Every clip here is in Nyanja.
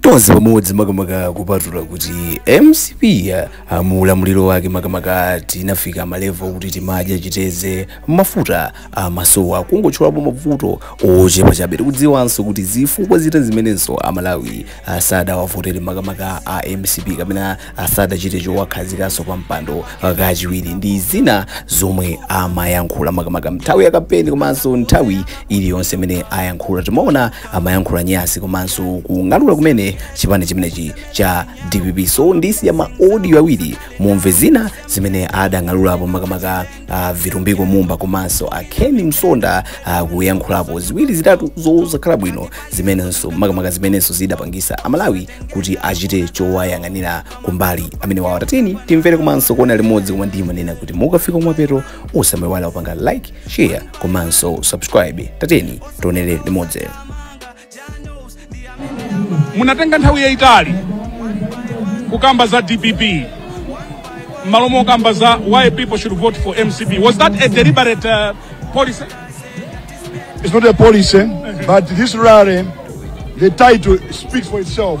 tonse pamodzi makamaka kupatula kuti mcp mu ulamuliro wake makamaka tinafika malevo kuti timadya chiteze mafuta amasowa kungotchulapo mavuto ochepa chabe tikudziwanso kuti zifukwa zina zimenenso amalawi asadawavotere makamaka a mcp kapena asadachite chowakhazikanso pa mpando kachiwiri ndi zina zomwe amayankhula makamaka mnthawi ya kampeni komanso nthawi iliyonse imene ayankhula timaona amayankhula nyasi komanso kung'alula kumene chipani chimenechi cha dpp so ndisiya ma audio awiri mumve zina zimene adang'alulapo makamaka uh, vitumbiko mumba komanso a Ken Msonda uh, kuyankhulapo ziwiri zitatu zosakhala bwino zimenenso makamaka zimenenso zidapangisa amalawi kuti achite chowayang'anira kumbali amenewa tatiyeni timvere komanso kuona limodzi koma ndimanena kuti mukafika kumapeto musamaiwale kupanga like share komanso subscribe tatiyeni tionere limodzi munatenga nthawi yayitali kukamba za dpp mmalo mokamba za why people should vote for mcp was that a deliberate uh, policy It's not a policy, but this rally, the title speaks for itself.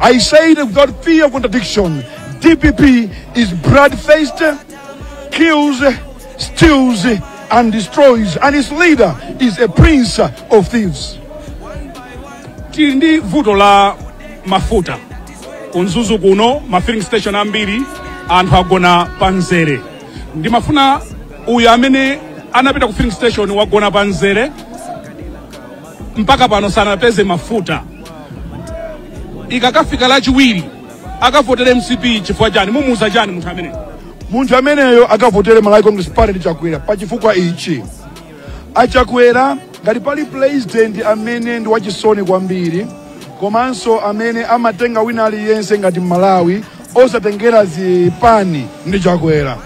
I say that without fear of contradiction. DPP is blood-faced, kills, steals, and destroys, and its leader is a prince of thieves. tili ndi vuto la mafuta ku Mzuzu kuno ma filling station ambiri anthu agona pa mzere ndimafuna uyu amene anapita ku filling station wagona pa mzere mpaka pano sanapeze mafuta ikakafika lachiwiri akavotere mcp chifukwa chani mumuuza chani munthu ameneyo munthu ameneyo akavotere malawi congress party ndi chakwera pa chifukwa ichi achakwera ngati pali president amene ndi wachisoni kwambiri komanso amene amatenga wina aliyense ngati mmalawi osatengera zipani ndi chakwera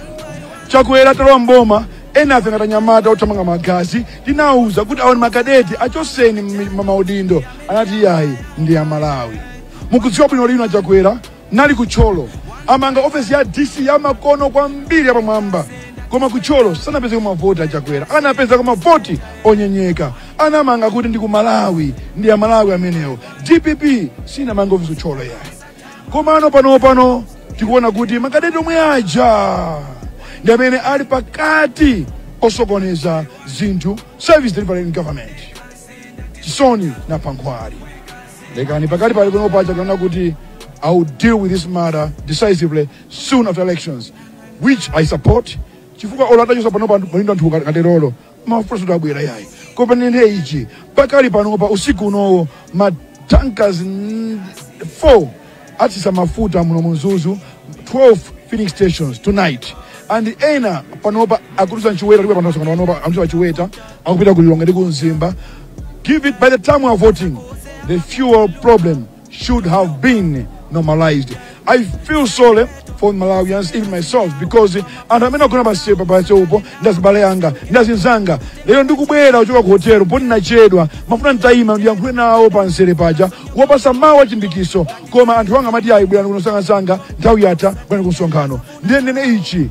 chakwera talowa mboma Enafe ngati anyamata othamanga magazi tinawauza kuti awo ni makadeti achotseni mmi- ma- maudindo anati iyayi ndi amalawi mukudziwa bwino lino achakwera anali ku Thyolo amanga ofesi ya dc ya makono kwambiri yapamwamba koma ku Thyolo sanapezeko mavoti achakwera anapezako mavoti onyenyeka anamanga kuti ndi ku malawi ndi amalawi amenewo dpp sinamanga ofesi ku Thyolo yayi komano panopano tikuona kuti makadeti omwe aja ndi amene ali pakati osokoneza zinthu service delivery in government chisoni chinapha nkhwali lekani pakati pali kuno paja tikuona kuti i will deal with this matter decisively soon after elections which i support chifukwa olo atachotsa panopa malindo anthu katerolo mafuta abwera yayi koma ndinene ichi pakali panopa usiku unowo matankers 4 atsitsa mafuta muno mu mzuzu 12 filling stations tonight and ena panopa akudutsa mchiweta ndipo panopa panopa amchiwa chiweta akupita ku lilongwe ndi ku mzimba give it by the time we are voting the fuel problem should have been normalized. I feel sorry for Malawians, even myself, because anthu amene agona pansi pa pamseupo ndi azibale anga ndi azinzanga lero ndikubwera kuchoka ku hotelo poti nachedwa mafuna nditayima ndiyankhule nawo pamzere paja kuwapasa mawu achilimbikiso koma anthu anga amati ayi bwerani kuno msangamsanga nthawi yatha bwerani ku msonkhano ndiye ndinene ichi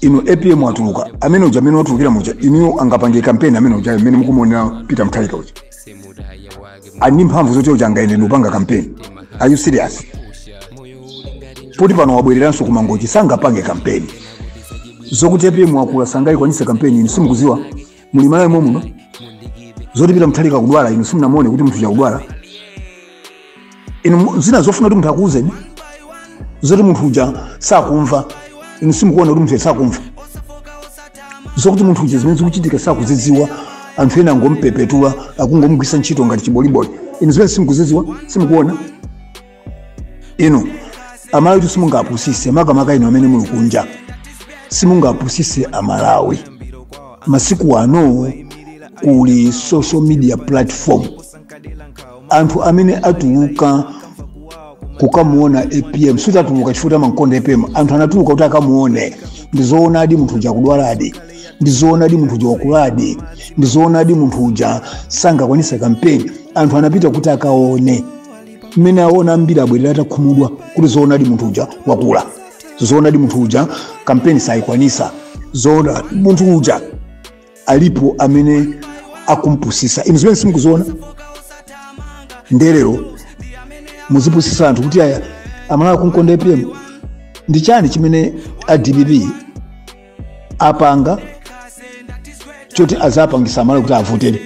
inu apm watuluka amene uja mmene watulukira muja inuyo angapange kampeni amene uja mmene mukumuonera peter mutharika uja ali ndi mphamvu zoti uja angayende ndikupanga kampeni are you serious poti pano wabwereranso ku mangochi sangapange kampeni zokuti apm wakula sangayikwanise kampeni inu simukuziwa muli malawi mommuno zoti pita muthalika akudwala inu simunamuone kuti munthu uja akudwala inu mu- zina zofuna kuti munthu akuuzeni zoti munthu uja sakumva inu simukuona kuti munthu uja sakumva zokuti munthu uja zimene zikuchitika sakuzidziwa anthu ena angompepetura akungomgwisa ntchito ngati chiboliboli inu zimene simukuzidziwa simukuona inu amalawitu simungapusise makamaka inu amene muli kunja simungapusise amalawi masiku ano kuli social media platform anthu amene atuluka kukamuona apm sikuti atuluka chifukwa choti amamkonda apm anthu anatuluka kuti akamuone ndizoonadi munthu uja akudwaladi ndizoonadi munthu uja wakuladi ndizoonadi munthu uja sangakwanise kampeni anthu anapita kuti akaone mmene aona ambiri abwerera atakhumudwa kuti zoonadi munthu uja wakula zoonadi munthu uja kampeni sayikwanisa zoona munthu uja alipo amene akumpusisa inu zimenezi simukuziona nde lero muzipusisa anthu kuti aya amalawi akunkonda apm ndi chani chimene a dpp apanga choti azapangisa amalawi kuti avotere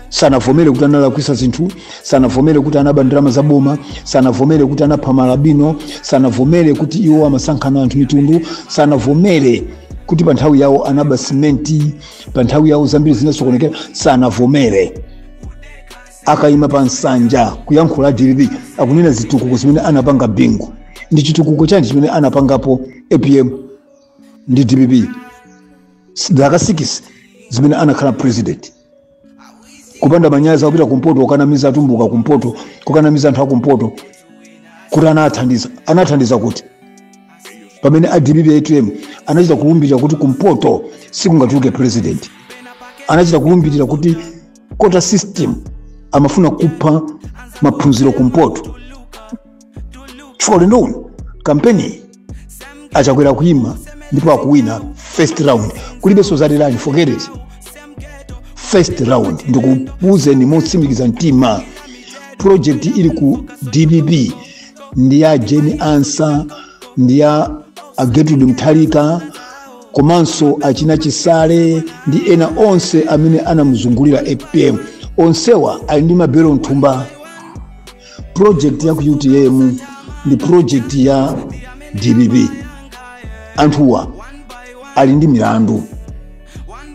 sanavomere kuti analakwisa zinthu sanavomere kuti anaba ndalama za boma sanavomere kuti anapha maalubino sanavomere kuti iwo amasankhana anthu mitundu sanavomere kuti pa nthawi yawo anaba simenti pa nthawi yawo zambiri zinasokonekera sanavomere akayima pa nsanja kuyankhula a dpp akunena zitukuko zimene anapanga bingu ndi chitukuko chani chimene anapangapo apm ndi dpp zaka 6 zimene anakhala president kupanda manyazi akupita kumpoto kukanamiza atumbuka kumpoto kukanamiza anthu akumpoto kuti anathandiza anathandiza kuti pamene a dpp apm anachita kulumbirira kuti kumpoto sikungatuluke president anachita kulumbirira kuti quota system amafuna kupha maphunziro kumpoto chifukwa ulendo uno kampeni achakwera kuima ndipo akuwina first round kulibenso zalirani forget it first round ndikuuzeni motsimikiza mtima project ili ku dpp ndi ya jane ansah ndi ya gertrude mutharika komanso achina chisale ndi ena onse amene anamuzungulira apm onsewa ali ndi mabelo mthumba project ya ku utm ndi project ya dpp anthuwa ali ndi milandu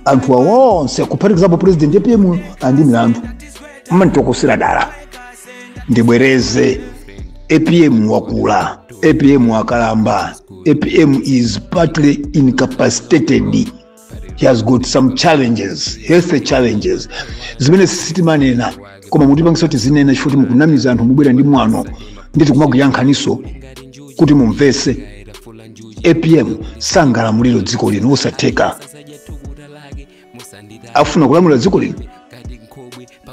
anthuwa onse kuphatikizapo president apm ali ndi milandu mmanditokosera dala ndibwereze apm wakula apm wakalamba apm is partly incapacitated he has got some challenges health challenges zimene sitimanena koma mutipangisa kuti tizinena chifukwa kuti mukunamiza anthu mubwera ndi mwano nditi kumakuyankhaniso kuti mumvese apm sangalamulire dziko lino osatheka akufuna kulamulira dziko lino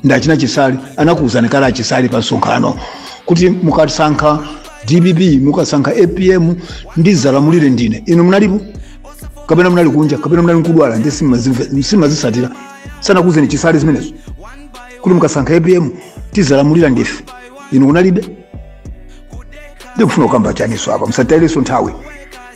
ndi achina chisale anakuwuzani kale achisale pa msonkhano kuti mukasankha dpp mukasankha apm ndizalamulira ndine inu munalipo kapena munali kunja kapena munali nkudwala ndiye simazimve- simazisatira sanakuwuzeni chisale zimenezo kuti mukasankha apm tizalamulira ndife inu kunalibe ndikufuna kukamba chaniso apa musatayireso nthawi